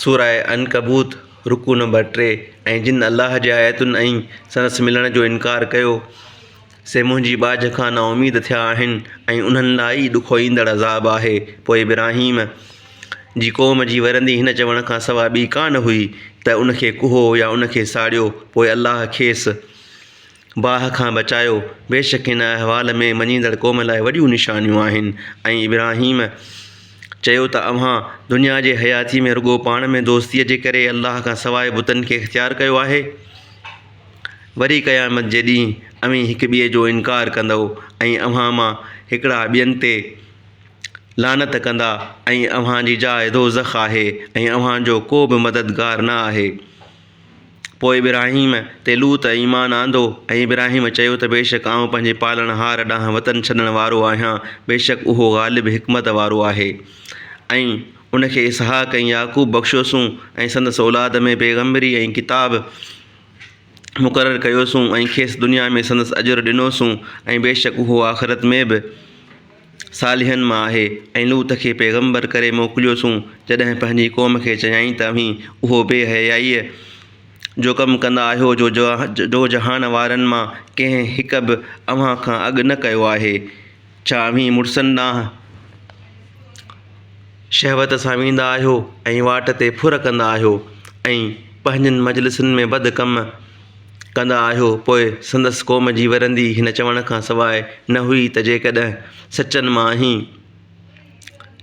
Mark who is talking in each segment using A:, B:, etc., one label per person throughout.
A: سورة عنڪبوت، رڪوع نمبر ٽي، ۽ جن الله جي آيتن ۽ سندس ملڻ جو انڪار ڪيو، سي منهنجي ٻاجهه کان نااميد ٿيا آهن ۽ انهن لاء ئي ڏکوئيندڙ عذاب آهي، پوء ابراهيم، جي قوم جي ورندي هن چوڻ کان سواء ٻي ڪانه هئي ته ان کي ڪهو يا ان کي ساڙيو، پوء الله کيس، باهه کان بچايو، بيشڪ هن احوال ۾ مڃيندڙ قوم لاء وڏيون نشانيون آهن ۽ ابراهيم چيو ته اوهان دنيا جي حياتيء ۾ رڳو پاڻ ۾ دوستيء جي ڪري الله کان سواء بتن کي اختيار ڪيو آهي، وري قيامت جي ڏينهن اوهين هڪ ٻئي جو انڪار ڪندؤ ۽ اوهان مان هڪڙا ٻين تي لعنت ڪندا ۽ اوهان جي جاء دوزخ آهي ۽ اوهان جو ڪو به مددگار نه آهي. پوء ابراهيم تي لوط ايمان آندو ۽ ابراهيم چيو ته بيشڪ آئون پنهنجي پالڻهار ڏانهن وطن ڇڏڻ وارو آهيان بيشڪ اهو غالب حڪمت وارو آهي ۽ ان کي اسحاق ۽ يعقوب بخشيوسون ۽ سندس اولاد ۾ پيغمبري ۽ ڪتاب مقرر ڪيوسون ۽ کيس دنيا ۾ سندس اجر ڏنوسون ۽ بيشڪ اهو آخرت ۾ به صالحن مان آهي ۽ لوط کي پيغمبر ڪري موڪليوسون جڏهن پنهنجي قوم کي چيائين ته اوهين اهو بي حيائيء جو ڪم ڪندا آهيو جو جو جهان وارن مان ڪنهن هڪ به اوهان کان اڳ نه ڪيو آهي ڇا اوهين مڙسن ڏانهن شهوت سان ويندا آهيو ۽ واٽ تي ڦر ڪندا آهيو ۽ پنهنجين مجلسن ۾ بد ڪم ڪندا آهيو پوء سندس قوم جي ورندي هن چوڻ کان سواء نه هئي ته جيڪڏهن سچن مان آهين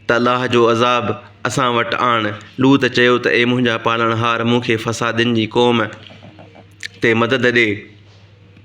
A: ته الله جو عذاب اسان وٽ آڻ لوط چيو ته اي منهنجا پالڻهار مون کي فسادين جي قوم تي مدد ڏي.